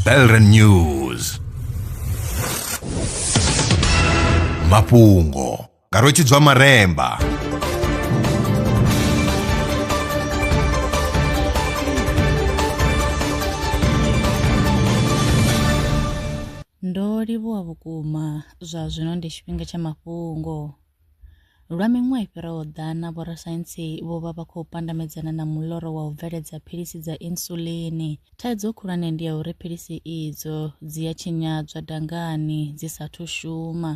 Belren News mafhungo nga rwetshidzwa maremba ndo livhuwa vhukuma zwa zwino ndi tshifhinga tsha mafhungo Lwa miṅwaha i fhiraho ḓana, vhorasaintsi vho vha vha khou pandamedzana na muḽoro wa u bveledza philisi dza insulin. Thaidzo khulwane ndi ya uri philisi idzo dzi a tshinyadzwa dangani dzi sa athu shuma.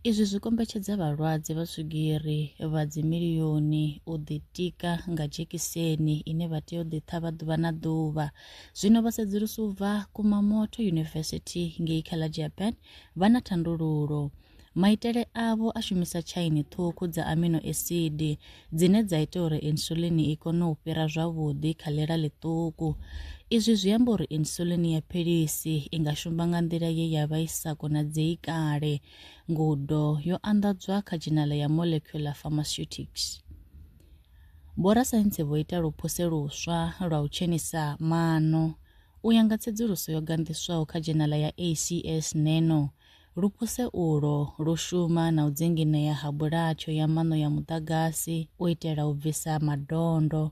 Izwi zwi kombetshedza vhalwadze vha swigiri vha dzimilioni u ḓitika nga dzhekiseni ine vha tea u ḓi ṱhavha ḓuvha na ḓuvha. Zwino vhasedzulusi u bva Kumamoto University ngei kha ḽa Japan vha na thandululo. Maitele avho a shumisa tshaini ṱhukhu dza amino esidi dzine dza ita uri insulin i kone u fhira zwavhuḓi kha ḽela ḽiṱuku. Izwi zwi amba uri insulin ya philisi i nga shumba nga nḓila ye ya vha i sa konadzei kale. Ngudo yo anḓadzwa kha dzhenala ya Molecular Pharmaceutics. Vhorasaintsi vho ita luphuse luswa lwa u tshenisa maṋo. U ya nga tsedzuluso yo ganḓiswaho kha dzhenala ya ACS Nano, Lupuse ulo lu shuma na u dzinginea ha bulatsho ya maṋo ya muḓagasi u itela u bvisa madondo.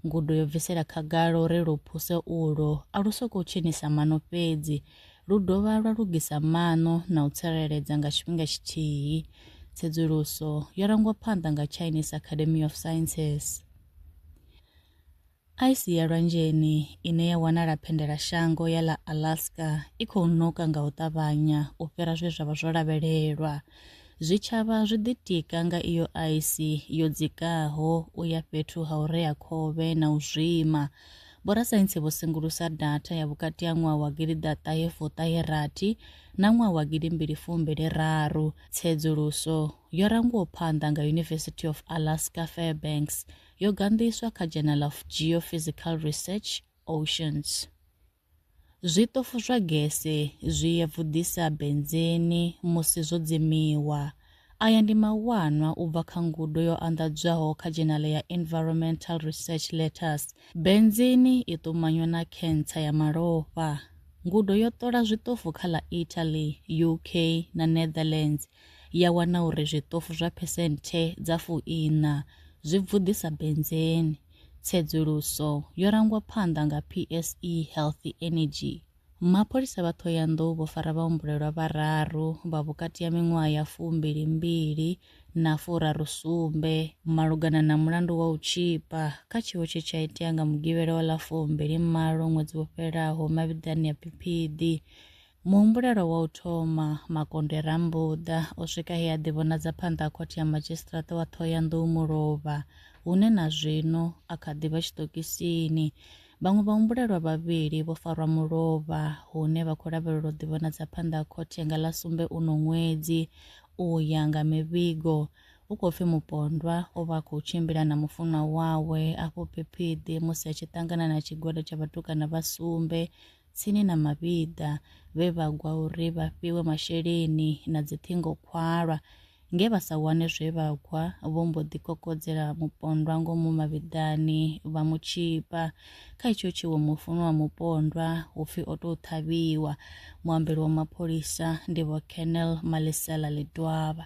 Ngudo yo bvisela khagala uri lupuse ulo a lu sokou tshinisa maṋo fhedzi, lu dovha lwa lugisa maṋo na u tsireledza nga tshifhinga tshithihi. Tsedzuluso yo rangwa phanḓa nga Chinese Academy of Sciences. Aisi ya lwanzheni ine ya wanala phendelashango ya ḽa Alaska i khou ṋoka nga u ṱavhanya u fhira zwe zwa vha zwo lavhelelwa. Zwitshavha zwi ḓitika nga iyo aisi yo dzikaho u ya fhethu ha u rea khovhe na u zwima. Vhorasaintsi vho sengulusa datha ya vhukati ha ṅwaha wa gidi ḓa ṱahe fuṱahe rathi na ṅwaha wa gidi mbili fumbili raru. Tsedzuluso yo rangwaho phanḓa nga University of Alaska Fairbanks yo ganḓiswa kha Journal of Geophysical Research, Oceans. Zwiṱofu zwa gese zwi ya vhuḓisa benzeni musi zwo dzimiwa. Aya ndi mawanwa u bva kha ngudo yo anḓadzwaho kha dzhenale ya Environmental Research Letters. Benzeni i ṱumanywa na khentsa ya malofha. Ngudo yo ṱola zwiṱofu kha ḽa Italy, UK na Netherlands ya wana uri zwiṱofu zwa phesenthe dza fu iṋa zwi bvuḓisa benzeni. Tsedzuluso yo rangwa phanḓa nga PSE Healthy Energy. Mapholisa vha Thohoyandou vho fara vhahumbulelwa vhararu vha vhukati ha miṅwaha ya fumbili mbili na furaru sumbe malugana na mulandu wa u tshipa kha tshiwo tshe tsha itea nga Mugivhela wa ḽa fumbili malo ṅwedzi wo fhelaho mavhiḓani ya Phiphiḓi Muhumbulelwa wa u thoma, Makonde Rambuḓa, o swika he a ḓivhonadza phanḓa ha Khothe ya Madzhisiṱiraṱa wa Ṱhohoyanḓou Mulovha, hune na zwino a kha ḓi vha tshiṱokisini. Vhaṅwe vhahumbulelwa vhavhili vho farwa mulovha, hune vha khou lavhelelwa u ḓivhonadza phanḓa ha khothe nga ḽa sumbe uno ṅwedzi. U ya nga mivhigo, hu khou pfi mupondwa o vha a khou tshimbila na mufunwa wawe afho Phiphiḓi musi a tshi ṱangana na tshigwada tsha vhatukana vha sumbe tsini na mavhiḓa vhe vha gwa uri vha fhiwe masheleni na dziṱhingo khwalwa nge vha sa wane zwe vha gwa vho mbo ḓi kokodzela mupondwa ngomu mavhiḓani vha mu tshipa kha itsho tshiwo mufuno wa mupondwa upfi o tou ṱhavhiwa muambeli wa mapholisa ndi vho Colonel Malisela Ledwaba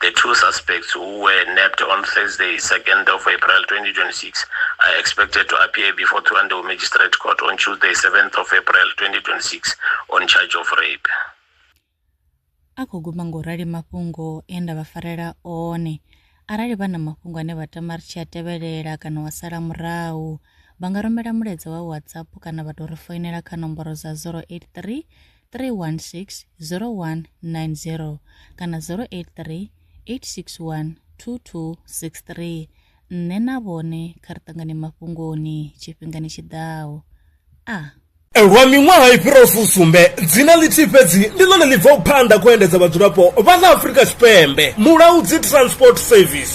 The two suspects who were nabbed on Thursday, 2nd of April 2026, are expected to appear before Thohoyandou Magistrate Court on Tuesday, 7th of April 2026, on charge of rape. a khou guma nga u rali mafhungo e nda vha farela one arali vha na mafhungo ane vha tama ri tshi a tevhelela kana wa sala murahu vha nga rumela mulaedza wa whatsapp kana vha tou ri foinela kha nomboro dza 083 316 0190 kana 083 861 2263 nṋe na vhone kha ri ṱangane mafhungoni tshifhingani tshi ḓaho a ah. lwa miṅwaha i fhiraho fusumbe dzina ḽithihi fhedzi ndi ḽone ḽi bvaho phanḓa khou endedza vhadzulapo vha ḽa afurika tshipembe mulaudzi transport service